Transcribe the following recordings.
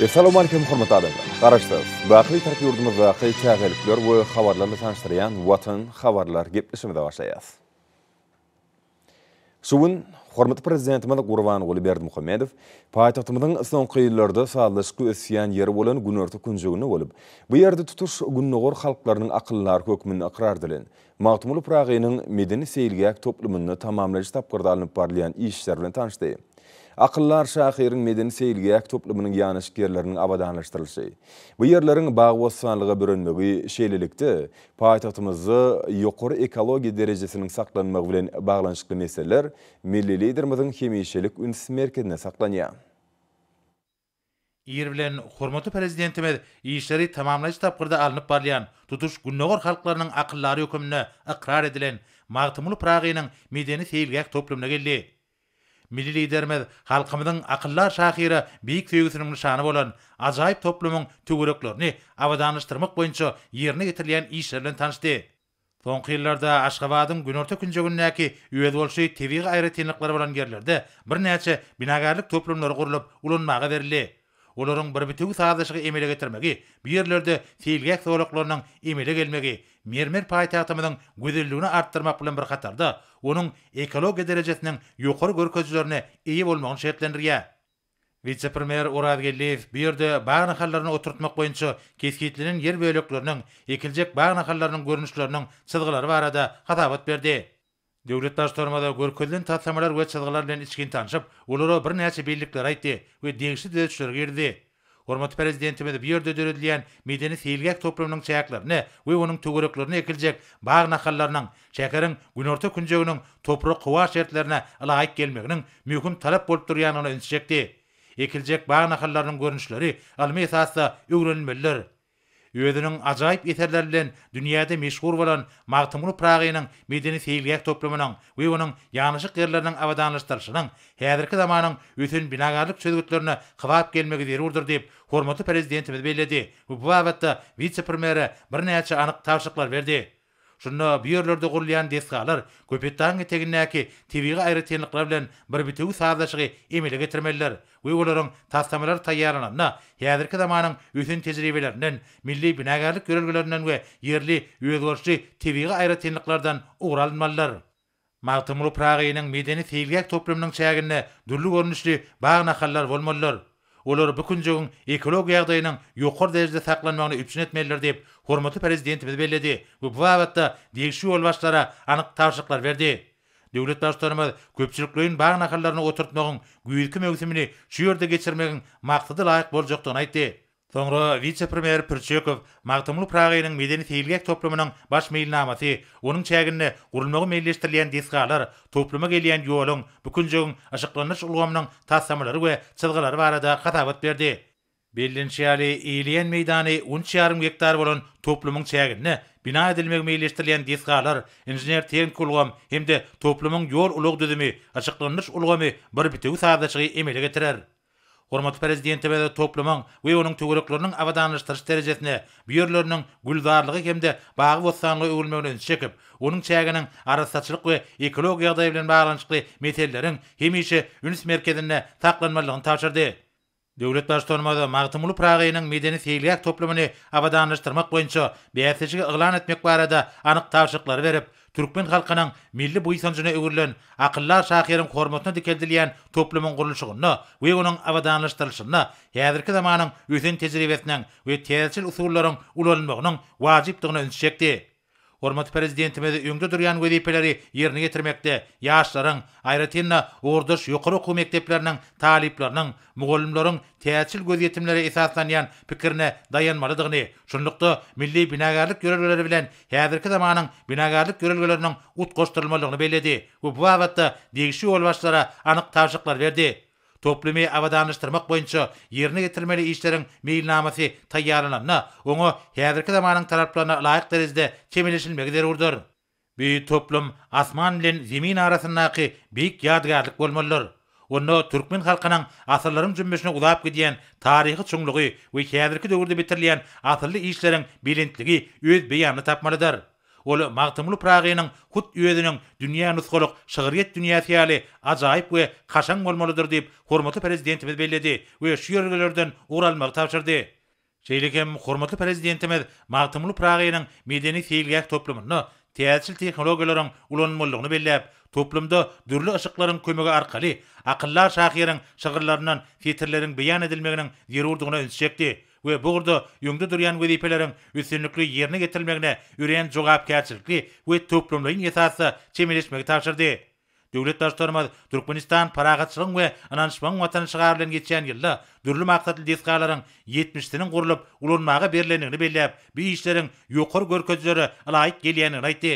Essalowmalikim hormatly adamlar! Garaşsyz, bakyly tarap ýurdumyzdaky täzelikler we habarlar bilen tanyşdyrýan Watan habarlar gepleşigimize başlaýas. Şu gün hormatly Prezidentimiz Gurbanguly Berdimuhamedow paýtagtymyzyň soňky ýyllarda sazlaşykly ösýän ýeri bolan günorta künjeginde bolup, bu ýerde tutuş Gündogar halklarynyň akyldary hökmünde ykrar edilen Magtymguly Pyragynyň medeni-seýilgäh toplumynda tamamlaýyş tapgyrda alnyp barylýan işler bilen tanyşdy. Akyldar şahyryň medeni-seýilgäh toplumynyň ýanaşyk ýerleriniň abadanlaşdyrylyşy, bu ýerleriň bagy-bossanlyga bürenmegi, şeýlelikde, paýtagtymyzda ýokary ekologiýa derejesiniň saklanmagy bilen baglanyşykly meseleler milli Liderimiziň hemişelik üns merkezinde saklanýar. Ir bilen hormatly Prezidentimiz işleri tamamlaýjy tapgyrda alnyp barylýan tutuş Gündogar halklarynyň akyldary höküminde ykrar edilen Magtymguly Pyragynyň medeni-seýilgäh toplumyna geldi. Milli Liderimiz halkymyzyň akyldar şahyra beýik söýgüsiniň nyşany bolan ajaýyp toplumyň töwereklerini abadanlaşdyrmak boýunça ýerine ýetirilýän işler bilen tanyşdy. Soňky ýyllarda Aşgabadyň günorta künjegindäki özboluşly tebigy aýratynlyklary bolan ýerlerde birnäçe binagärlik toplumlary gurlup ulanmaga berildi. Olaryň bir bitewi sazlaşygy emele getirmegi, bu ýerlerde seýilgäh zolaklarynyň emele gelmegi mermer paýtagtymyzyň gözelligini artdyrmak bilen bir hatarda, onuň ekologiýa derejesiniň ýokary görkezilerine eýe bolmagyny şertlendirýär. Wise-premýer Oraz Geldiýew bu ýerde bag nahallaryny oturtmak boýunça kesgitlenen ýer bölekleriniň, ekiljek bag nahallarynyň görnüşleriniň çyzgylary barada hasabat berdi. Döwlet Baştutanymyz görkezilen taslamalar we çyzgylar bilen içgin tanşyp, olara birnäçe bellikleri aýtdy we degişli düzedişleri girizdi. Hormatly Prezidentimiz bu ýerde döredilýän medeni-seýilgäh toplumynyň çäklerini we onuň töwereklerine ekiljek bag nahallarynyň şäheriň günorta künjeginiň toprak-howa şertlerine ylaýyk gelmeginiň möhüm talap bolup durýandygyna ünsi çekdi. Ekiljek bag nahallarynyň görnüşleri ylmy esasda öwrenilmelidir. Özüniň ajaýyp eserleri bilen dünýäde meşhur bolan Magtymguly Pyragynyň medeni-seýilgäh toplumynyň we onuň ýanaşyk ýerleriniň abadanlaşdyrylyşynyň häzirki zamanyň ösen binagarlyk çözgütlerine kybap gelmegi zerurdyr diýip, hormatly Prezidentimiz belledi we bu babatda wise-premýere birnäçe anyk tabşyryklar berdi. Şunda bu ýerlerde gurulýan desgalar Köpetdagyň etegindäki tebigy aýratynlyklar bilen bir bitewi sazlaşygy emele getirmelidir we olaryň taslamalary taýýarlananda häzirki zamanyň ösen tejribelerinden, milli binagärlik ýörelgelerinden we ýerli özgerişli tebigy aýratynlyklardan ugur alynmalydyr. Magtymguly Pyragynyň medeni seýilgäh toplumynyň çäginde dürli görnüşli bag-nahallar bolmalydyr. Olar bu künjegiň ekologik ýagdaýynyň ýokary derejede saklanmagyny üpjün etmelidir diýip, hormatly Prezidentimiz belledi we bu babatda degişli ýolbaşçylara anyk tabşyryklar berdi. Döwlet Baştutanymyz köpçülikleýin bag nahallaryny oturtmagyň güýzki möwsümini şu ýerde geçirmegiň maksada laýyk boljakdygyny aýtdy. Soňra wise-premýer Pürçekow Magtymguly Pyragynyň medeni-seýilgäh toplumynyň baş meýilnamasy, onuň çäginde gurulmagy meýilleşdirilýän desgalar, topluma gelýän ýoluň, bu künjegiň yşyklandyryş ulgamynyň taslamalary we çyzgylary barada hasabat berdi. Bellenişi ýaly, eýeleýän meýdany üç ýarym gektar bolan toplumyň çäginde bina edilmegi meýilleşdirilýän desgalar, inžener-tehniki ulgam hem-de toplumyň ýol-ulag düzümi, yşyklandyryş ulgamy bir bitewi sazlaşygy emele getirer. Hormatly Prezidentimize toplumyň we onuň töwerekleriniň abadanlaşdyryş derejesine, bu ýerleriniň gülzarlyga hem-de bagy-bossanlyga öwrülmegine ünsi çekip, onuň çäginiň arassaçylyk we ekologik ýagdaý bilen baglanyşykly meseleleriň hemişe üns merkezinde saklanmalydygyny tabşyrdy. Döwlet Baştutanymyz Magtymguly Pyragynyň medeni-seýilgäh toplumyny abadanlaşdyrmak boýunça bäsleşigi yglan etmek barada anyk tabşyryklary berip, Türkmen halkynyň milli buýsanjyna öwrülen akyldar şahyryň hormatyna dikeldilýän toplumyň gurluşygynda we onuň abadanlaşdyrylyşynda häzirki zamanyň ösen tejribesiniň we täzeçil usullaryň ulanylmagynyň wajypdygyna üns çekdi. Hormatly Prezidentimiz öňde durýan wezipeleri ýerine ýetirmekde ýaşlaryň, aýratyn-da, ugurdaş ýokary okuw mekdepleriniň talyplarynyň, mugallymlaryň täzeçil gözýetimlere esaslanýan pikirine daýanmalydygyny, şunlukda, milli binagärlik ýörelgeleri bilen häzirki zamanyň binagärlik ýörelgeleriniň utgaşdyrylmalydygyny belledi we bu babatda degişli ýolbaşçylara anyk tabşyryklar berdi. Toplumy abadanlaşdyrmak boýunça ýerine ýetirilmeli işleriň meýilnamasy taýýarlananda, oňa häzirki zamanyň talaplaryna laýyk derejede çemeleşilmegi zerurdyr. Bu toplum asman bilen zemin arasyndaky beýik ýadygärlik bolmalydyr. Onda türkmen halkynyň asyrlaryň jümmüşine uzap gidýän taryhy çuňlugy we häzirki döwürde bitirilýän asylly işleriň belentligi öz beýanyny tapmalydyr. Ol Magtymguly Pyragynyň hut özüniň dünýä nusgalyk şygryýet dünýäsi ýaly ajaýyp we kaşaň bolmalydyr diýip, hormatly Prezidentimiz belledi we şu ýörelgelerden ugur almagy tabşyrdy. Şeýle hem hormatly Prezidentimiz Magtymguly Pyragynyň medeni-seýilgäh toplumynda täzeçil tehnologiýalaryň ulanylmalydygyny belläp, toplumda dürli yşyklaryň kömegi arkaly akyldar şahyryň şygyrlaryndan setirleriň beýan edilmeginiň zerurdygyna üns çekdi we bu ugurda öňde durýan wezipeleriň üstünlikli ýerine getirilmegine örän jogapkärçilikli we toplumlaýyn esasda çemeleşmegi tabşyrdy. Döwlet Baştutanymyz Türkmenistan Parahatçylygyň we ynanyşmagyň Watany şygary bilen geçýän ýylda dürli maksatly desgalaryň ýetmişisiniň gurlup ulanmaga berlendigini belläp, bu işleriň ýokary görkezijilere ylaýyk gelýändigini aýtdy.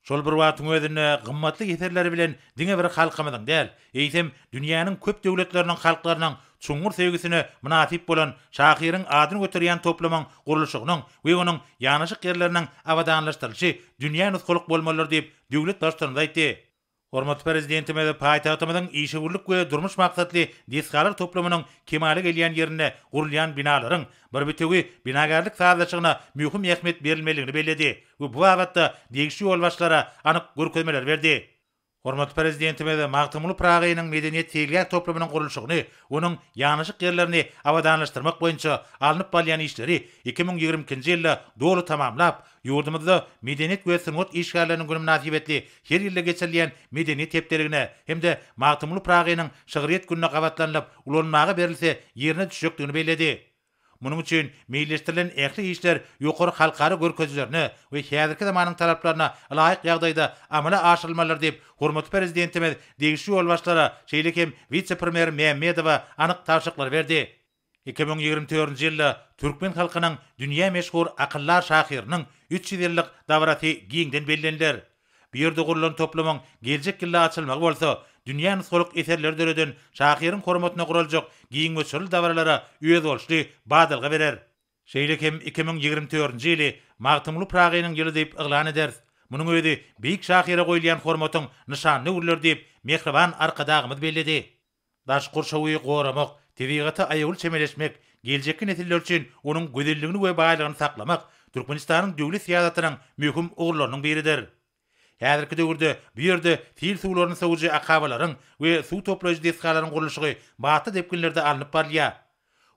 Şol bir wagtyň özünde gymmatly eserleri bilen diňe bir halkymyzyň däl, eýsem, dünýäniň köp döwletleriniň halklarynyň çuňňur söýgüsine mynasyp bolan şahyryň adyny göterýän toplumyň gurluşygynyň we onuň ýanaşyk ýerleriniň abadanlaşdyrylyşy dünýä nusgalyk bolmalydyr diýip, Döwlet Baştutanymyz aýtdy. Hormatly Prezidentimiz paýtagtymyzyň işewürlik we durmuş maksatly desgalar toplumynyň kemala gelýän ýerinde gurulýan binalaryň bir bitewi binagärlik sazlaşygyna möhüm ähmiýet berilmelidigini belledi we bu babatda degişli ýolbaşçylara anyk görkezmeleri berdi. Hormatly Prezidentimiz Magtymguly Pyragynyň medeniýet seýilgäh toplumynyň gurluşygyny, onuň ýanaşyk ýerlerini abadanlaşdyrmak boýunça alnyp barylýan işleri iki müň ýigrimi ikinji ýylda doly tamamlap, Ýurdumyzda Medeniýet we sungat işgärleriniň güni mynasybetli her ýylda geçirilýän Medeniýet hepdeligine hem-de Magtymguly Pyragynyň şygryýet gününe gabatlanylyp ulanmaga berilse ýerine düşjekdigini belledi. Munuň üçin meýilleşdirilen ähli işler ýokary halkara görkezijilerine we häzirki zamanyň talaplaryna laýyk ýagdaýda amala aşyrylmalydyr diýip, hormatly Prezidentimiz degişli ýolbaşçylara, şeýle hem wise-premýer Mämmedowa anyk tabşyryklary berdi. Iki müň ýigrimi dördünji ýylda türkmen halkynyň dünýä meşhur Akyldar şahyrynyň üç ýüz ýyllyk dabarasy giňden belleniler. Bu ýerde gurlan toplumyň geljek ýylda açylmagy bolsa, dünýä nusgalyk eserleri döreden şahyryň hormatyna guraljak giň göçürli dabaralara özboluşly badalga berer. Şeýle hem iki müň ýigrimi dördünji ýyly Magtymguly Pyragynyň ýyly diýip yglan ederis. Munuň özi beýik şahyra goýulýan hormatyň nyşanyny öwrüler diýip, mähriban Arkadagymyz belledi. Daş gurşawy goramak, tebigata aýawly çemeleşmek, geljekki nesiller üçin onuň gözelligini we baýlygyny saklamak Türkmenistanyň döwlet syýasatynyň möhüm ugurlarynyň biridir. Häzirki döwürde bu ýerde sil suwlaryny sowujy akabalaryň we suw toplaýjy desgalaryň gurluşygy batly depginlerde alnyp barylýar.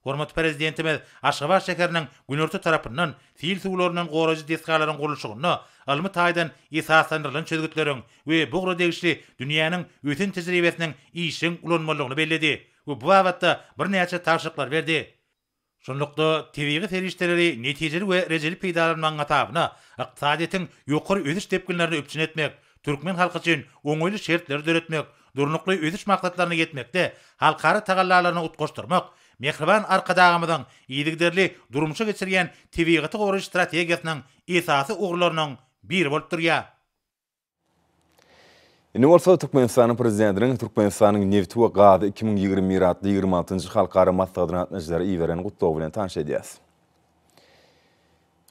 Hormatly Prezidentimiz Aşgabat şäheriniň günorta tarapyndan sil suwlaryndan goraýjy desgalaryň gurluşygynda ylmy taýdan esaslandyrylan çözgütleriň we bu ugra degişli dünýäniň ösen tejribesiniň işjeň ulanylmalydygyny belledi we bu babatda birnäçe tabşyryklary berdi. Şunlukda, tebigy serişdeleri netijeli we rejeli peýdalanmagyň hasabyna ykdysadyýetiň ýokary ösüş depginlerini üpjün etmek, türkmen halky üçin oňaýly şertleri döretmek, Durnukly ösüş maksatlaryna ýetmekde halkara tagallalaryny utgaşdyrmak Mähriban Arkadagymyzyň yzygiderli durmuşa geçirýän tebigaty goraýyş strategiýasynyň esasy ugurlarynyň biri bolup durýar. Indi bolsa Türkmenistanyň Prezidentiniň Türkmenistanyň nebti we gazy iki müň ýigrimi bir atly ýigrimi altynjy halkara maslahatyna gatnaşyjylara iberen gutlawy bilen tanyş edýäs.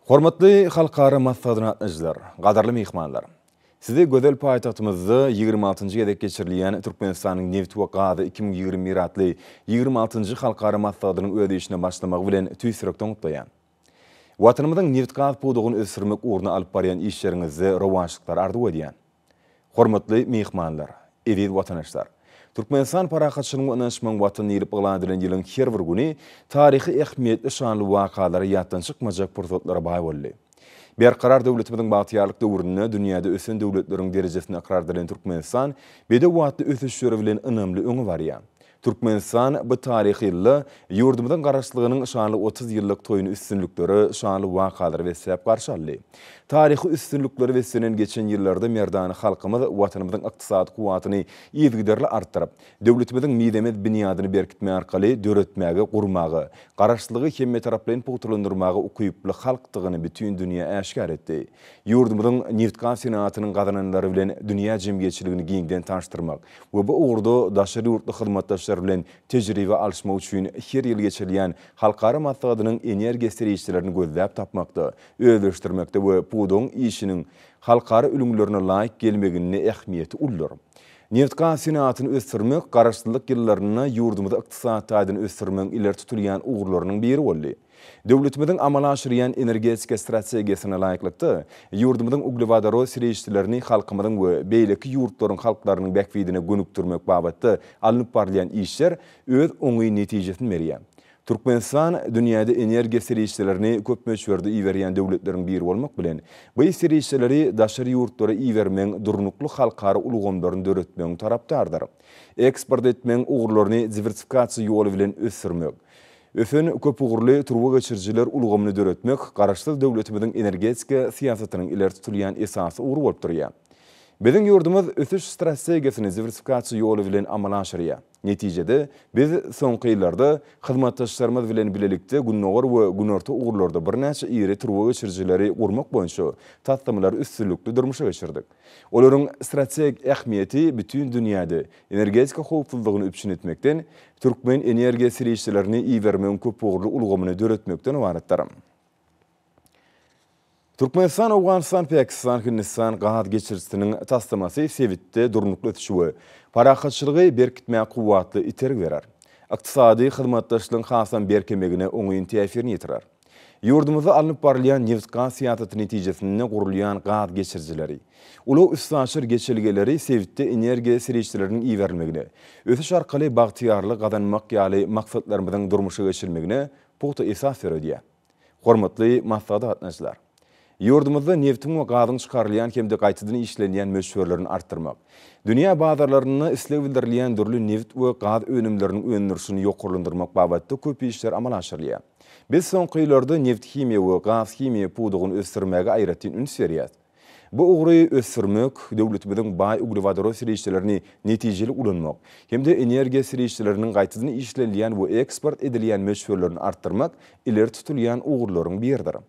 Hormatly halkara maslahatyna gatnaşyjylar, gadyrly myhmanlar! Sizi gözel paýtagtymyzda ýigrimi altynjy gezek geçirilýän Türkmenistanyň nebit we gazy iki müň ýigrimi bir atly ýigrimi altynjy halkara maslahatynyň öz işine başlamagy bilen tüýs ýürekden gutlaýan. Watanymyzyň nebit-gaz pudagyny ösdürmek ugrunda alyp barýan işleriňizde rowaçlyklar arzuw edýän. Hormatly myhmanlar, eziz watandaşlar! Türkmenistan parahatçylygyň we ynanyşmagyň Watany diýlip yglan edilen ýylyň her bir güni taryhy ähmiýetli şanly wakalara ýatdan çykmajak pursatlara baý boldy. Berkarar döwletimiziň bagtyýarlyk döwründe dünýäde ösen döwletleriň derejesinde ykrar edilen Türkmenistan bedew atly ösüşleri bilen ynamly öňe barýar. Türkmenistan bu taryhy ýylda ýurdumyzyň Garaşsyzlygynyň şanly otuz ýyllyk toýuny üstünliklere, şanly wakalara besläp garşy aldy. Taryhy üstünliklere beslenen geçen ýyllarda merdana halkymyz Watanymyzyň ykdysady kuwwatyny yzygiderli artdyryp, döwletimiziň mizemez binýadyny berkitmek arkaly döretmäge, gurmaga, Garaşsyzlygy hemmetaraplaýyn pugtalandyrmaga ukyply halkdygyny bütin dünýä äşgär etdi. Ýurdumyzyň nebitgaz senagatynyň gazananlary bilen dünýä jemgyýetçiligini giňden tanyşdyrmak, we bu ugurda daşary ýurtly hyzmatdaşlar bilen tejribe alyşmak üçin her ýyl geçirilýän halkara maslahatynyň energiýa serişdelerini gözläp tapmakda, özleşdirmekde we pudagyň işiniň halkara ülňülerine laýyk gelmeginde ähmiýeti uludyr. Nebitgaz senagatyny ösdürmek Garaşsyzlyk ýyllarynda ýurdumyzy ykdysady taýdan ösdürmegiň ileri tutulýan ugurlarynyň biri boldy. Döwletimiziň amala aşyrýan energetika strategiýasyna laýyklykda, ýurdumyzyň uglewodorod serişdelerini halkymyzyň we beýleki ýurtlaryň halklarynyň bähbidine gönükdirmek babatda alnyp barylýan işler öz oňyn netijesini berýär. Türkmenistan dünýäde energiýa serişdelerini köp möçberde iberýän döwletleriň biri bolmak bilen, bu serişdeleri daşary ýurtlara ibermegiň durnukly halkara ulgamlaryny döretmegiň tarapdarydyr. Eksport etmegiň ugurlaryny diwersifikasiýa ýoly bilen ösdürmek, Ösen, köpugurly turba geçirijiler ulgamyny döretmek Garaşsyz döwletimiziň energetika syýasatynyň ileri tutulýan esasy ugry bolup durýar. Biziň ýurdumyz ösüş strategiýasyny diwersifikasiýa ýoly bilen amala aşyrýar. Netijede, biz soňky ýyllarda hyzmatdaşlarymyz bilen bilelikde Gündogar we Günorta ugurlarda birnäçe iri turba geçirijileri gurmak boýunça taslamalary üstünlikli durmuşa geçirdik. Olaryň strategik ähmiýeti bütin dünýäde energetika howpsuzlygyny üpjün etmekden, türkmen energiýa serişdelerini ibermegiň köpugurly ulgamyny döretmekden ybaratdyr. Türkmenistan, Owganystan, Pakistan, Hindistan gaz geçirijisiniň taslamasy sebitde durnukly ösüşi we parahatçylygy berkitmäge kuwwatly itergi berer, ykdysady hyzmatdaşlygyň hasam berkemegine oňyn täsirini ýetirer. Ýurdumyzda alnyp barylýan nebit-gaz syýasaty netijesinde gurulýan gaz geçirijileri, ulag-üstaşyr geçelgeleri sebitde energiýa serişdeleriniň iberilmegine, ösüş arkaly bagtyýarlygy gazanmak ýaly maksatlarymyzyň durmuşa geçirilmegine pugta esas döredýär. Hormatly maslahata gatnaşyjylar! Ýurdumyzda nebtiň we gazyň çykarylýan hem-de gaýtadan işlenýän möçberlerini artdyrmak, dünýä bazarlarynda isleg bildirilýän dürli nebit we gaz önümleriniň öndürilişini ýokarlandyrmak babatda köp işler amala aşyrylýar. Biz soňky ýyllarda nebthimiýa we gazhimiýa pudagyny ösdürmäge aýratyn üns berýäris. Bu ugry ösdürmek, döwletimiziň baý uglewodorod serişdelerini netijeli ulanmak hem-de energiýa serişdeleriniň gaýtadan işlenilýän we eksport edilýän möçberlerini artdyrmak ileri tutulýan ugurlaryň biridir.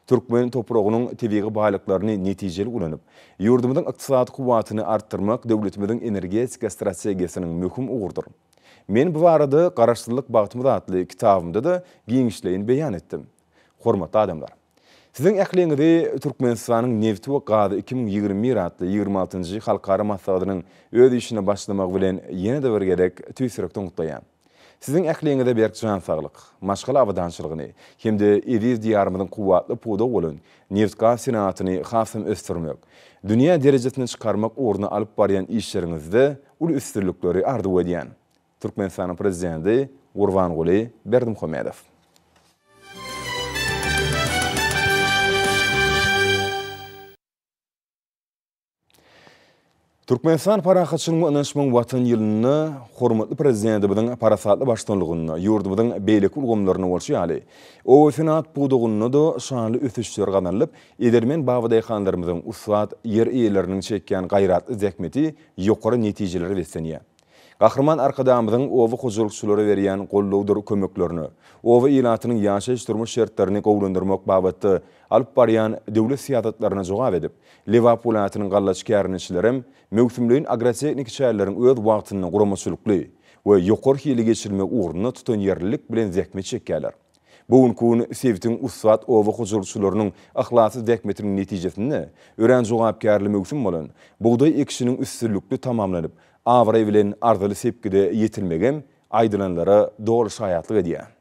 Türkmen topragynyň tebigy baýlyklaryny netijeli ulanyp, ýurdumyzyň ykdysady kuwwatyny artdyrmak döwletimiziň energetika strategiýasynyň möhüm ugurydyr. Men bu barada Garaşsyzlyk bagtymyz atly kitabymda-da giňişleýin beýan etdim. Hormatly adamlar! Siziň ähliňizi Türkmenistanyň nebti we gazy iki müň ýigrimi bir atly ýigrimi altynjy halkara maslahatynyň öz işine başlamagy bilen ýene-de bir gezek tüýs ýürekden gutlaýan. Siziň ähliňize berk jan saglyk, maşgala abadançylygyny hem-de eziz Diýarymyzyň kuwwatly pudagy bolan nebit-gaz senagatyny hasam ösdürmek, dünýä derejesine çykarmak ugrunda alyp barýan işleriňizde uly üstünlikleri arzuw edýän. Türkmenistanyň Prezidenti Gurbanguly Berdimuhamedow. Türkmenistan parahatçylygyň we ynanyşmagyň Watan ýylynda hormatly Prezidentimiziň parasatly baştutanlygynda ýurdumyzyň beýleki ulgamlarynda bolşy ýaly, obasenagat pudagynda-da şanly ösüşler gazanylyp, edermen babadaýhanlarymyzyň, ussat ýer eýeleriniň çekýän gaýratly zähmeti ýokary netijelere beslenýär. Gahryman Arkadagymyzyň oba hojalykçylara berýän goldawdyr kömeklerine, oba ilatynyň ýaşaýyş-durmuş şertlerini gowulandyrmak babatda alyp barýan döwlet syýasatlaryna jogap edip, Lebap welaýatynyň gallaçy kärendeçilerem möwsümleýin agrotehniki çäreleriň öz wagtynda guramaçylykly we ýokary hilli geçirilmegi ugrunda tutanýerlilik bilen zähmet çekýärler. Bu günki gün sebitiň ussat oba hojalykçylarynyň yhlasly zähmetiniň netijesinde örän jogapkärli möwsüm bolan bugdaý ekişiniň üstünlikli tamamlanyp, abraý bilen arzyly sepgide ýetilmegem aýdylanlara doly şaýatlyk edýär.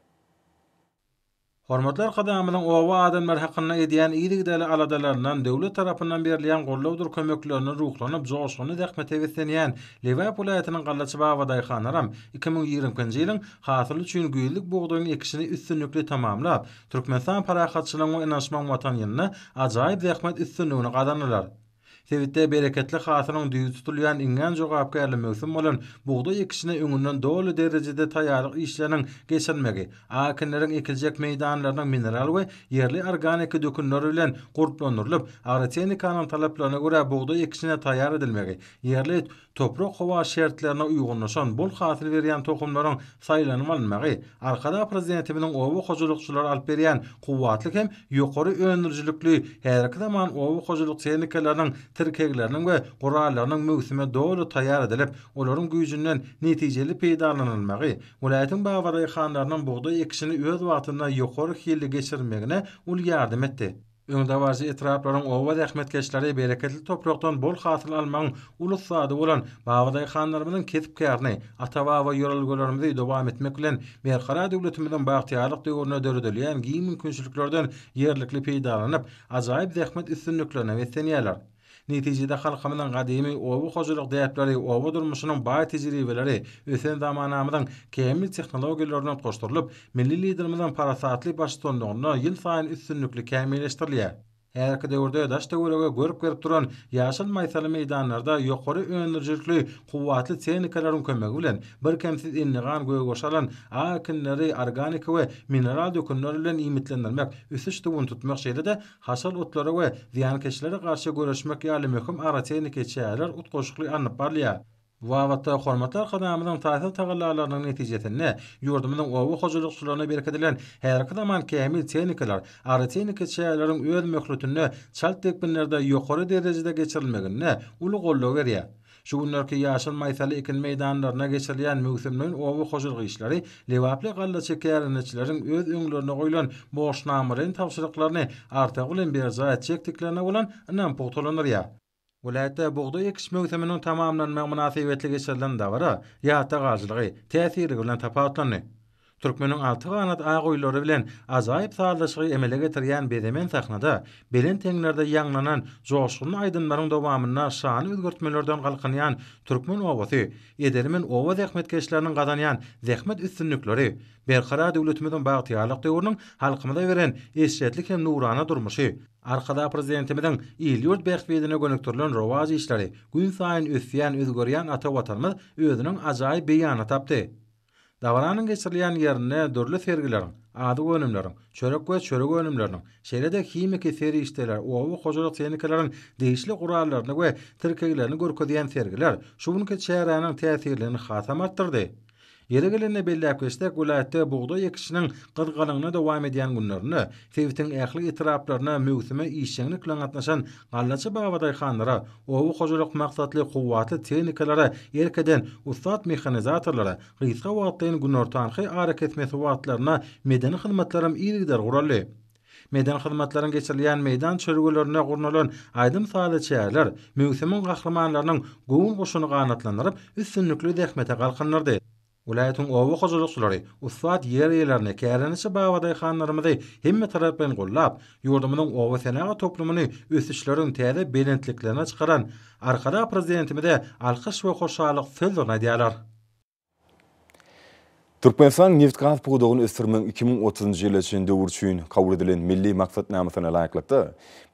Hormatly Arkadagymyzyň oba adamlary hakynda edýän yzygiderli aladalaryndan, döwlet tarapyndan berilýän gollawdyr kömeklerinden ruhlanyp, joşgunly zähmete beslenýän Lebap welaýatynyň gallaçy babadaýhanlaram iki müň ýigrimi ikinji ýylyň Hasyl üçin güýzlük bugdaýyň ekişini üstünlikli tamamlap, Türkmenistan parahatçylygyň we ynanyşmagyň Watan ýylynda ajaýyp zähmet üstünligini gazanylar. Sebitde bereketli hasylyň düýbi tutulýan iňňän jogapkärli möwsüm bolan bugdaý ekişine öňünden doly derejede taýýarlyk işleriniň geçirilmegi akinleriň ekiljek meýdanlarynyň mineral we ýerli organiki dökünler bilen gurplandyrylyp, agrotehnikanyň talaplaryna görä bugdaý ekişine taýýar edilmegi, ýerli Toprak-howa şertlerine uýgunlaşan, bol hasyl berýän tohumlaryň saýlanyp alynmagy Arkadag Prezidentimiziň oba hojalykçylara alyp berýän kuwwatly hem ýokary öndürijilikli häzirki zaman oba hojalyk tehnikalarynyň tirkegleriniň we gurallarynyň möwsüme doly taýýar edilip, olaryň güýjünden netijeli peýdalanylmagy welaýatyň babadaýhanlarynyň bugdaý ekişini öz wagtynda ýokary hilli geçirmegine uly ýardam etdi. Öňdebaryjy etraplaryň oba zähmetkeşleri bereketli toprakdan bol hasyl almagyň uly ussady bolan babadaýhanlarymyzyň kesp-kärini, ata-baba ýörelgelerimizi dowam etmek bilen, Berkarar döwletimiziň bagtyýarlyk döwründe döredilýän giň mümkinçiliklerden ýerlikli peýdalanyp, ajaýyp zähmet üstünliklerine beslenýärler. Netijede halkymyzyň gadymy oba hojalyk däpleri, oba durmuşynyň baý tejribeleri ösen zamanamyzyň kämil tehnologiýalaryna utgaşdyrylyp, milli Liderimiziň parasatly baştutanlygynda ýylsaýyn üstünlikli kämilleşdirilýär. Häzirki döwürde daş-töwerege görk berip duran ýaşyl maýsaly meýdanlarda ýokary öndürijilikli kuwwatly tehnikalaryň kömegi bilen birkemsiz endigan gögbaşy alan ak ekinleri organiki we mineral dökünler bilen iýmitlendirmek, ösüş-suwuny tutmak, şeýle-de haşal otlara we zyýankeşlere garşy göreşmek ýaly möhüm agrotehniki çäreler utgaşykly alnyp barylýar. Bu babatda hormatly Arkadagymyzyň taýsyz tagallalarynyň netijesinde, ýurdumyzyň oba hojalykçylaryna berkidilen häzirki zaman kämil tehnikalar, agrotehniki çäreleriň öz möhletinde çalt depginlerde ýokary derejede geçirilmeginde uly goldaw berýär. Şu günlerki ýaşyl maýsaly ekin meýdanlarynda geçirilýän möwsümleýin oba hojalyk işleri lebaply gallaçy kärendeçileriň öz öňlerine goýlan borçnamalaýyn tabşyryklaryny artygy bilen berjaý etjekdiklerine bolan ynamy pugtalandyrýar. Welaýatda bugdaý ekiş möwsüminiň tamamlanmagy mynasybetli geçirilen dabara ýatda galyjylygy, täsirligi bilen tapawutlandy. Türkmeniň alty ganat a goýulary bilen ajaýyp sazlaşygy emele getirýän bezemen sahnada, belent heňlerde ýaňlanan joşgunly aýdymlaryň dowamynda şany özgertmelerden galkynýan türkmen obasy, edelimn oba zähmetkeşleriniň gazanýan zähmet üstünlikleri, Berkarar döwletimiziň bagtyýarlyk döwrüniň halkymyza beren eşretli hem nurana durmuşy, Arkadag Prezidentimiziň il-ýurt bähbidine gönükdirilen rowaç işleri, günsaýyn ösýän, özgerýän ata Watanymyz özüniň ajaýyp beýanyny tapdy. Dabaranyň geçirilýän ýerinde dürli sergileriň, azyk önümleriň, çörek we çörek önümleriniň, şeýle-de himiki serişdeler, oba hojalyk tehnikalaryň degişli gurallaryny we tirkeglerini görkezýän sergiler şu günki çäräniň täsirligini hasam artdyrdy. Ýeri gelende belläp geçsek, welaýatda bugdaý ekişiniň gyzgalaňly dowam edýän günlerinde sebitiň ähli etraplaryna möwsüme işjeňlik bilen gatnaşan Gallaçy babadaýhanlara, oba hojalyk maksatly kuwwatly tehnikalara erk eden ussat mehanizatorlara gysga wagtlaýyn günortanky arakesmesi wagtlarynda medeni hyzmatlaram yzygider guraldy. Medeni hyzmatlaryň geçirilýän meýdan çözgülerinde gurnalan aýdym-sazly çäreler möwsümiň gahrymanlarynyň göwün guşuny ganatlandyryp, üstünlikli zähmete galkyndyrdy. Welaýatyň oba hojalykçylary, ussat ýer eýelerini, kärendeçi babadaýhanlarymyzy hemmetaraplaýyn gollap, ýurdumyzyň oba senagat toplumyny ösüşleriň täze belentliklerine çykaran Arkadag Prezidentimize alkyş we hoşallyk sözlerini aýdýarlar. Türkmenistanyň nebitgaz pudagyny ösdürmegiň iki müň otuzynjy ýyla çenli döwri üçin kabul edilen Milli maksatnamasyna laýyklykda,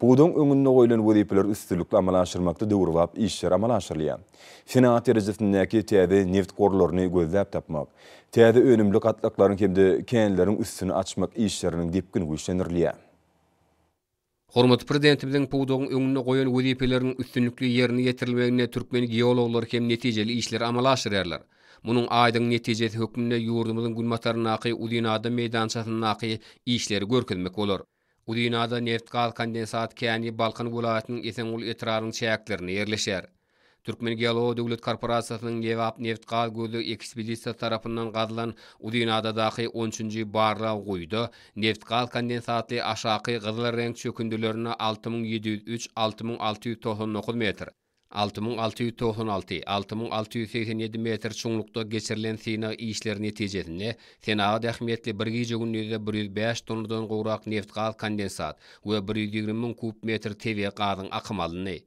pudagyň öňünde goýlan wezipeleri üstünlikli amala aşyrmakda döwrebap işler amala aşyrylýar. Senat derejesindäki täze neft gorlaryny gözläp tapmak, täze önümli gatlaklaryň hem-de känleriň üstüni açmak işleriniň depgini güýçlendirilýär. Hormatly Prezidentimiziň pudagyň öňünde goýan wezipeleriniň üstünlikli ýerine ýetirilmeginde türkmen geologlary hem netijeli işleri amala aşyrýarlar. Munuň aýdyň netijesi hökmünde ýurdumyzyň günbataryndaky Uzynadam meýdançasyndaky işleri görkezmek bolar. Uzynada neft-gaz kondensat käni Balkan welaýatynyň Esenguly etrabynyň çäklerinde ýerleşýär. Türkmengeologiýa döwlet korporasiýasynyň Lebap neft-gaz gözleg ekspedisiýasy tarapyndan gazylan Uzynadadaky on üçünji barlag guýuda neft-gaz kondensatly aşaky gyzylreňk çökündilerinde alty müň ýedi ýüz üç alty müň alty ýüz togsan dokuz metr Alty müň alty ýüz togsan alty Alty müň alty ýüz segsen ýedi metr çuňlukda geçirilen synag işleri netijesinde senagat ähmiýetli bir gije-gündizde bir ýüz bäş tonnadan gowrak nebtgaz kondensat we bir ýüz ýigrimi müň kub metr tebigy gazyň akymy alyndy.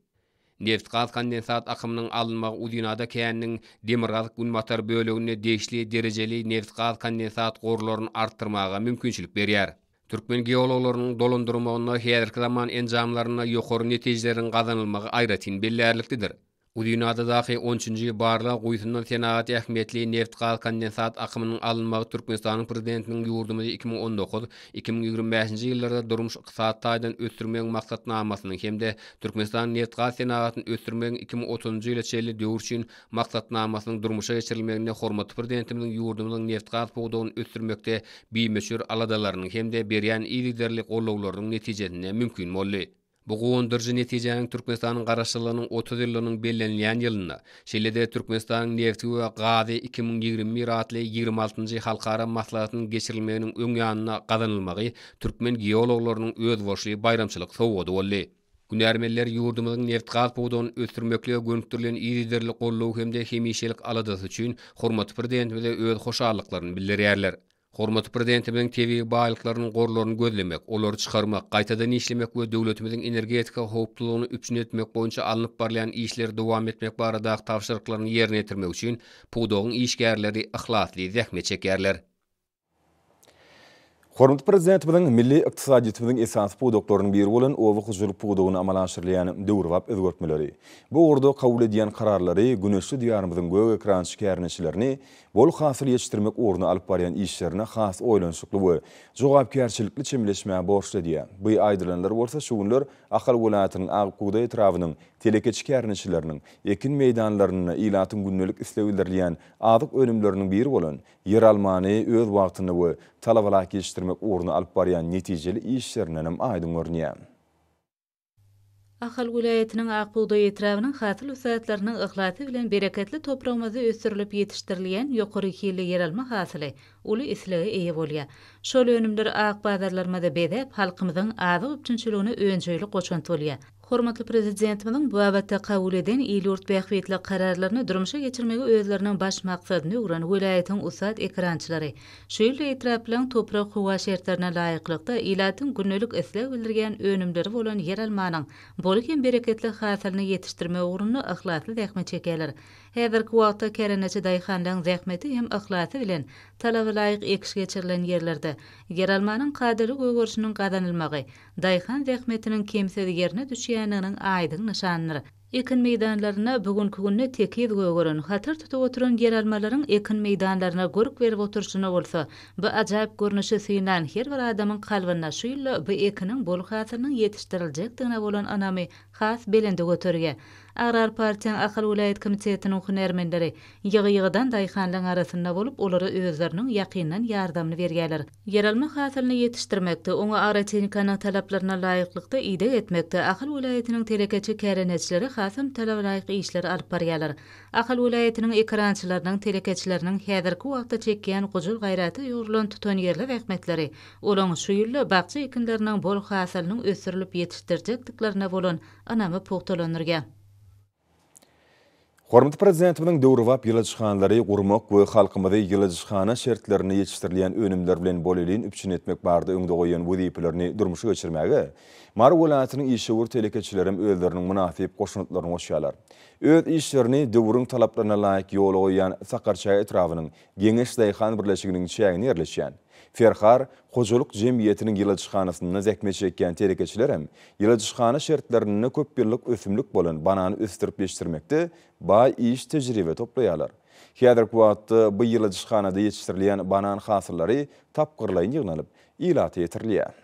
Nebtgaz kondensat akymynyň alynmagy Uzynada käniniň demirgazyk-günbatar böleginde degişli derejeli nebtgaz kondensat gorlaryny artdyrmaga mümkinçilik berýär. Türkmen geologlarynyň dolandyrmagynda häzirki zaman enjamlarynda ýokary netijeleriň gazanylmagy aýratyn bellärliklidir. Uzynadadaky on üçünji barlag guýusyndan senagat ähmiýetli nebit-gaz-kondensat akymynyň alynmagy Türkmenistanyň Prezidentiniň ýurdumyzy iki müň on dokuz, iki müň ýigrimi bäşinji ýyllarda durmuş-ykdysady taýdan ösdürmegiň maksatnamasynyň hem-de Türkmenistanyň nebit-gaz senagatyny ösdürmegiň iki müň otuzynjy ýyla çenli döwür üçin Maksatnamasynyň durmuşa geçirilmeginde hormatly Prezidentimiziň ýurdumyzyň nebtgaz pudagyny ösdürmekde bimöçber aladalarynyň hem-de berýän yzygiderli gollawlarynyň netijesinde mümkin boldy. Bu guwandyryjy netijäniň Türkmenistanyň Garaşsyzlygynyň otuz ýyllygynyň bellenilýän ýylynda, şeýle-de Türkmenistanyň nebti we gazy iki müň ýigrimi bir atly ýigrimi altynjy halkara maslahatynyň geçirilmeginiň öň ýanynda gazanylmagy türkmen geologlarynyň özboluşly baýramçylyk sowgady boldy. Hünärmenler ýurdumyzyň nebtgaz pudagyny ösdürmeklige gönükdirilen yzygiderli goldaw hem-de hemişelik aladasy üçin hormatly Prezidentimize öz hoşallyklaryny bildirýärler. Hormatly Prezidentimiziň tebigy baýlyklarynyň gorlaryny gözlemek, olary çykarmak, gaýtadan işlemek we döwletimiziň energetika howpsuzlygyny üpjün etmek boýunça alnyp barylýan işleri dowam etmek baradaky tabşyryklaryny ýerine ýetirmek üçin pudagyň işgärleri yhlasly zähmet çekýärler. Hormatly Prezidentimiziň milli ykdysadyýetimiziň esasy pudaklarynyň biri bolan oba hojalyk pudagyny amala aşyrylýan döwrebap özgertmeleri, bu ugurda kabul edýän kararlary güneşli Diýarymyzyň gök ekrançy kärndeçilerini bol hasyl ýetişdirmek ugrunda alyp barýan işlerine has oýlanyşykly we jogapkärçilikli çemeleşmäge borçly edýär. Bu aýdylanlar bolsa şu günler Ahal welaýatynyň Akbugdaý etrabynyň telekeçi kärndeçileriniň ekin meýdanlarynda ilatyň gündelik isleg bildirilýän azyk önümleriniň biri bolan Ýeralmany öz wagtynda we talabalap ýetişdirmek ugrunda alyp barýan netijeli işlerindenem aýdyň görünýär. Ahal welaýatynyň Ak bugdaý etrabynyň hasyl ussatlarynyň yhlasy bilen bereketli topragymyzda ösdürilip ýetişdirilýän ýokary hilli ýeralma hasyly uly islege eýe bolýar. Şol önümler ak bazarlarymyzy bezäp, halkymyzyň azyk üpjünçiligine önjeýli goşant bolýar. Hormatly Prezidentimiziň bu babatda kabul eden il-ýurt bähbitli kararlaryny durmuşa geçirmegi özleriniň baş maksadyna öwren welaýatyň ussat ekrançylary şu ýylda etraplaryň toprak-howa şertlerine laýyklykda ilatyň gündelik isleg bildirýän önümleri bolan ýeralmanyň bol hem bereketli hasylyny ýetişdirmek ugrunda yhlasly zähmet çekýärler. Häzirki wagtda kärendeçi daýhanlaryň zähmeti hem yhlasy bilen talabalaýyk ekiş geçirilen ýerlerde ýeralmanyň kadaly gögerişiniň gazanylmagy, daýhan zähmetiniň kemsiz ýerine düşýändiginiň aýdyň nyşanydyr. Ekin meýdanlarynda bu günki günde tekiz gögeren, hatar tutup oturan ýeralmalaryň ekin meýdanlaryna görk berip oturyşyna bolsa, bu ajaýyp görnüşi synlan her bir adamyň kalbynda şu ýylda bu ekiniň bol hasylynyň ýetişdiriljekdigine bolan ynamy has belende göterýär. Agrar partiýaň Ahal welaýat komitetiniň hünärmenleri ýygy-ýygydan daýhanlaryň arasynda bolup, olara özleriniň ýakyndan ýardamyny berýärler. Ýeralma hasylyny ýetişdirmekde, oňa agrotehinikanyň talaplaryna laýyklykda ideg etmekde Ahal welaýatynyň telekeçi kärendeçileri hasam talabalaýyk işleri alyp barýarlar. Ahal welaýatynyň ekerançylarynyň, telekeçileriniň häzirki wagtda çekýän gujur gaýrata ýugrulan tutanýerli zähmetleri, olaň şu ýylda bakja ekinleriniň bol hasylynyň ösdürilip ýetişdirjekdiklerine bolan ynamy pugtalandyrýar. Hormatly Prezidentimiziň döwrebap ýyladyşhanalary gurmak we halkymyzy ýyladyşhana şertlerinde ýetişdirilýän önümler bilen bolelin üpjün etmek barada öňde goýan wezipelerini durmuşa geçirmäge Mary welaýatynyň işewür telekeçilerem özleriniň mynasyp goşantlaryny goşýarlar. Öz işlerini döwrüň talaplaryna laýyk ýola goýýan Sakarçäge etrabynyň Geňeş daýhan birleşiginiň çäginde ýerleşýän Ferhar hojalyk jemgyýetiniň ýyladyşhanasynda zähmet çekýän telekeçiler hem ýyladyşhana şertlerinde köp ýyllyk ösümlik bolan banany ösdürip ýetişdirmekde baý iş tejribe toplaýarlar. Häzirki wagtda bu ýyladyşhanada ýetişdirilýän banan hasyllary tapgyrlaýyn ýygnalyp, ilata ýetirilýär.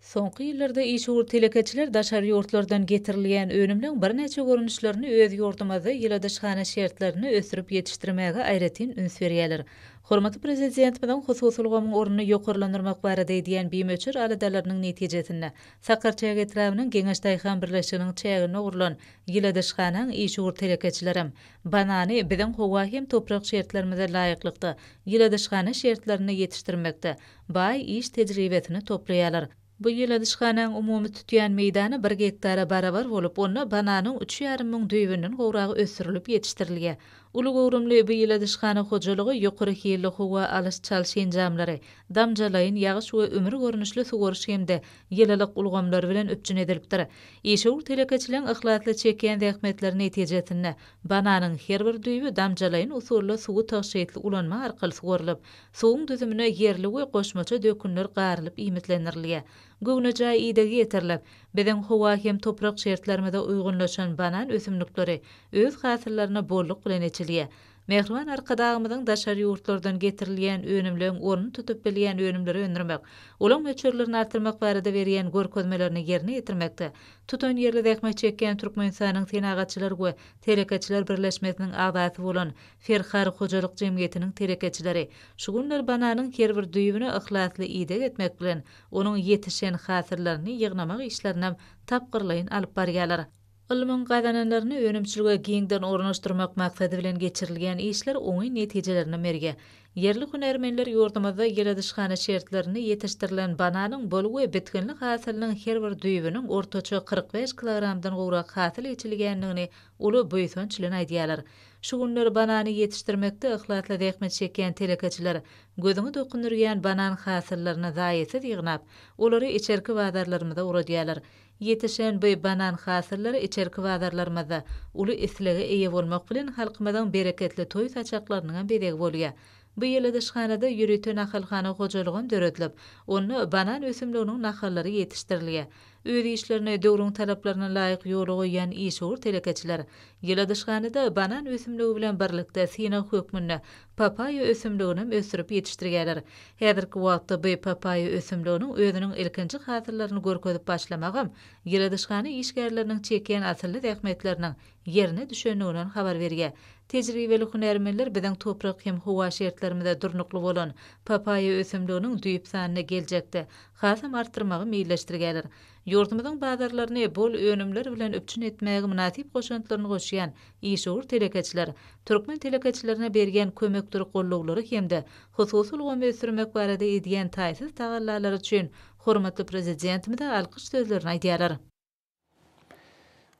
Soňky ýyllarda işewür telekeçiler daşary ýurtlardan getirilýän önümleň birnäçe görnüşlerini öz ýurdumyzda ýyladyşhana şertlerinde ösdürip ýetişdirmäge aýratyn üns berýärler. Hormatly Prezidentimiziň hususy ulgamyň ornuny ýokarlandyrmak barada edýän bimöçber aladalarynyň netijesinde, Sakarçäge etrabynyň Geňeş daýhan birleşiginiň çäginde gurlan ýyladyşhanaň işewür telekeçilerem banany biziň howa hem toprak şertlerimize laýyklykda ýyladyşhana şertlerinde ýetişdirmekde baý iş tejribesini toplaýarlar. Bu ýyladyşhanaň umumy tutýan meýdany bir gektara barabar bolup, onda bananyň üç ýarym müň düýbünden gowragy ösdürilip ýetişdirilýär. Uly göwrümli bu ýyladyşhana hojalygy ýokary hilli howa alyş-çalyş enjamlary, damjalaýyn ýagyş we ümür görnüşli suwaryş hem-de ýylylyk ulgamlary bilen üpjün edilipdir. Işewür telekeçileň yhlasly çekýän zähmetleri netijesinde, bananyň her bir düýbi damjalaýyn usulda suwy tygşytly ulanma arkaly suwarylyp, Suwuň düzümine ýerli we goşmaça dökünler garylyp iýmitlendirilýär. Göwnejaý idegi ýetirilip, biziň howa hem toprak şertlerimize uýgunlaşan banan ösümlikleri öz hasyllaryna bolluk bilen eçilýär. Mähriban Arkadagymyzyň daşary ýurtlardan getirilýän önümleň ornuny tutup bilýän önümleri öndürmek, olaň möçberlerini artdyrmak barada berýän görkezmelerini ýerine ýetirmekde tutanýerli zähmet çekýän Türkmenistanyň Senagatçylar we telekeçiler birleşmesiniň agzasy bolan Ferhar hojalyk jemgyýetiniň telekeçileri şu günler bananyň her bir düýbüne yhlasly ideg etmek bilen, onuň ýetişen hasyllaryny ýygnamak işlerinäm tapgyrlaýyn alyp barýarlar. Ylmyň gazananlaryny önümçilige giňden ornaşdyrmak maksady bilen geçirilýän işler oňyn netijelerini berýär. Ýerli hünärmenler ýurdumyzda ýyladyşhana şertlerinde ýetişdirilen bananyň bol we bitginli hasylynyň her bir düýbüniň ortaça kyrk bäş kilogramdan gowrak hasyl eçilýändigini uly buýsanç bilen aýdýarlar. Şu günler banany ýetişdirmekde yhlasly zähmet çekýän telekeçiler gözüňi dokundyrýan banan hasyllaryny zaýasyz ýygnap, olary içerki bazarlarymyza ugradýarlar. Ýetişen by banan hasyllary içerki bazarlarymyzda uly islege eýe bolmak bilen halkymyzyň bereketli toý saçaklarynyň hem bezegi bolýar. Bu ýyl yzyşhanada ýörite nahalhana hojalygam döredilip, onda banan ösümliginiň nahallary ýetişdirilýär. Öz işlerini döwrüň talaplaryna laýyk ýola goýýan işewür telekeçiler ýyladyşhanada banan ösümligi bilen birlikde synag hökmünde papaýa ösümliginem ösdürip ýetişdirgäler. Häzirki wagtda by papaýa ösümliginiň özüniň ilkinji hasyllaryny görkezip başlamagam ýyladyşhana işgärleriniň çekýän asylly zähmetleriniň ýerine düşendigini habar berýär. Tejribeli hünärmenler biziň toprak hem howa şertlerimize durnukly bolan papaýa ösümliginiň düýp sanyny geljekde hasam artdyrmagy meýilleşdirgäler. Ýurdumyzyň bazarlaryny bol önümler bilen üpjün etmäge mynasyp goşantlaryny goşýan işewür telekeçiler türkmen telekeçilerine berýän kömekdir gollawlary hem-de hususy ulgamy ösdürmek barada edýän taýsyz tagallalary üçin hormatly Prezidentimize alkyş sözlerini aýdýarlar.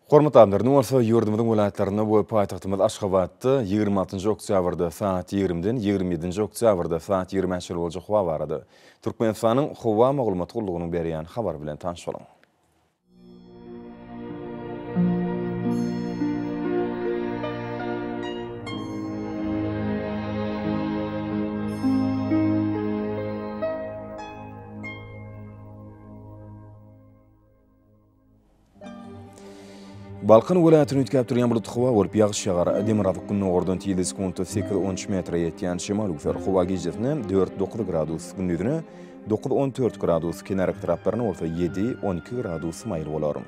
Hormatly adamlar, indi bolsa ýurdumyzyň welaýatlarynda we paýtagtymyz Aşgabatda ýigrimi altynjy oktýabrda sagat ýigrimiden ýigrimi ýedinji oktýabrda sagat ýigrimi çenli boljak howa barada Türkmenistanyň Howa maglumat gullugynyň berýän habary bilen tanyş boluň. Balkan welaýatyny üýtgäp durýan bulut howa bolup ýagyş ýagar. Demirgazyk gündogardan tizligi sekuntda sekiz on üç metre ýetýän şemal üwser. Howa gijesine dört dokuz gradus, gündizine dokuz on dört gradus, kenarki taraplaryna bolsa ýedi on iki gradus maýyl bolar.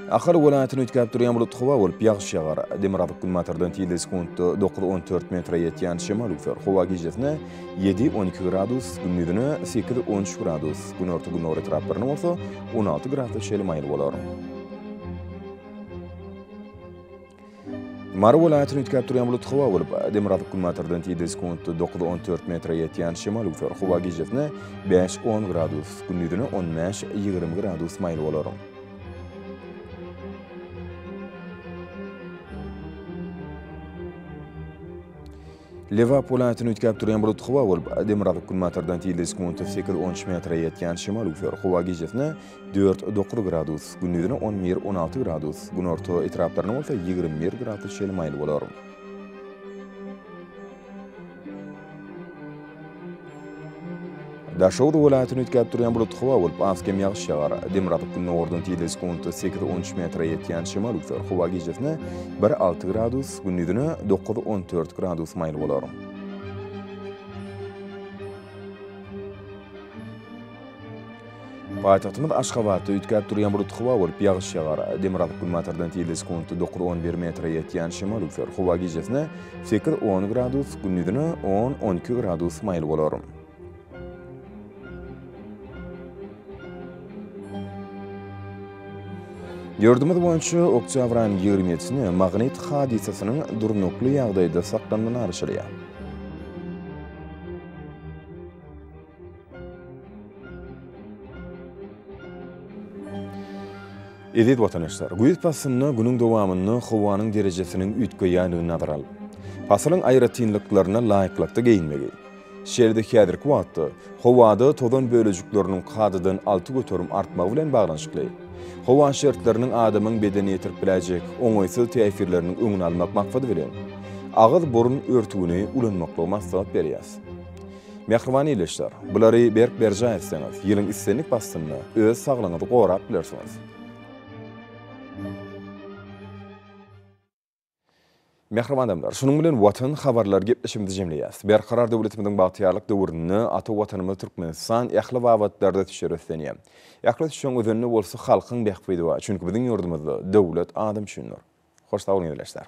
Ahal welaýatyny üýtgäp durýan bulut howa bolup, ýagyş ýagar. Demirgazyk günbatardan tizligi sekuntda dokuz-on dört metre ýetýän şemal üwser. Howa gijesine ýedi-on iki gradus, gündizine sekiz-on üç gradus, günorta-gündogar etraplarynda bolsa on alty gradsa çenli maýyl bolar. Mary welaýatyny üýtgäp durýan bulut howa bolup, demirgazyk günbatardan tizligi sekuntda dokuz on dört metre ýetýän şemal öwser. Howa gijesine bäş on gradus, gündizine on bäş ýigrimi gradus maýyl bolar. Lebap welaýatyny üýtgäp durýan bulut howa bolup, demirgazyk günbatardan tizligi sekunta sekiz-on üç metre ýetýän şemal üwser. Howa gijesine dört-dokuz gradus, gündizine on bir-on alty gradus, günorta etraplarynda bolsa ýigrimi bir gradus çenli maýyl bolar. Daşoguz welaýatyny üýtgäp durýan bulut howa bolup, az-kem ýagyş ýagar. Demirgazyk gündogardan tizligi sekuntda sekiz-on üç metre ýetýän şemal üwser. Howa gijesine bir alty gradus, gündizine dokuz-on dört gradus maýyl bolar. Paýtagtymyz Aşgabatda üýtgäp durýan bulut howa bolup, ýagyş ýagar. Demirgazyk günbatardan tizligi sekundy dokuz-on bir metre ýetýän şemal üwser. Howa gijesine sekiz-on gradus, gündizine on-on iki gradus maýyl bolar. Ýurdumyz boýunça oktýabryň ýigrimi ýedisine magnit hadysasynyň durnukly ýagdaýda saklanmagy garaşylýar. Eziz watanaşslar, güýz paslynda günüň dowamynda howanyň derejesiniň üýtgeýändigini nazara alyp, pasylyň aýratynlyklaryna laýyklykda geýinmegi. Şeýle-de häzirki wagtda howada tozan bölejikleriniň kadadan alty göterim artmagy bilen baglanyşykly, howa şertleriniň adamyň bedenine ýetirip biläýjek oňaýsyz täsirleriniň öňüni almak maksady bilen, agyz-burun örtügini ulanmaklygy maslahat berýäs. Mähriban ildeşler, bulary berk berjaý etseňiz, ýylyň islendik paslynda öz saglygyňyzy gorap bilersiňiz. Mähriban adamlar, şunuň bilen Watan habarlar gepleşigimizi jemleýäs. Berkarar döwletimiziň bagtyýarlyk döwründe ata Watanymyz Türkmenistan ähli babatlarda tüçjar öslenýär. Ähli tüçjäň özende bolsa halkyň bähbidi bar, çünki biziň ýurdumyzda döwlet adam üçindir. Hoş sag boluň ildeşler.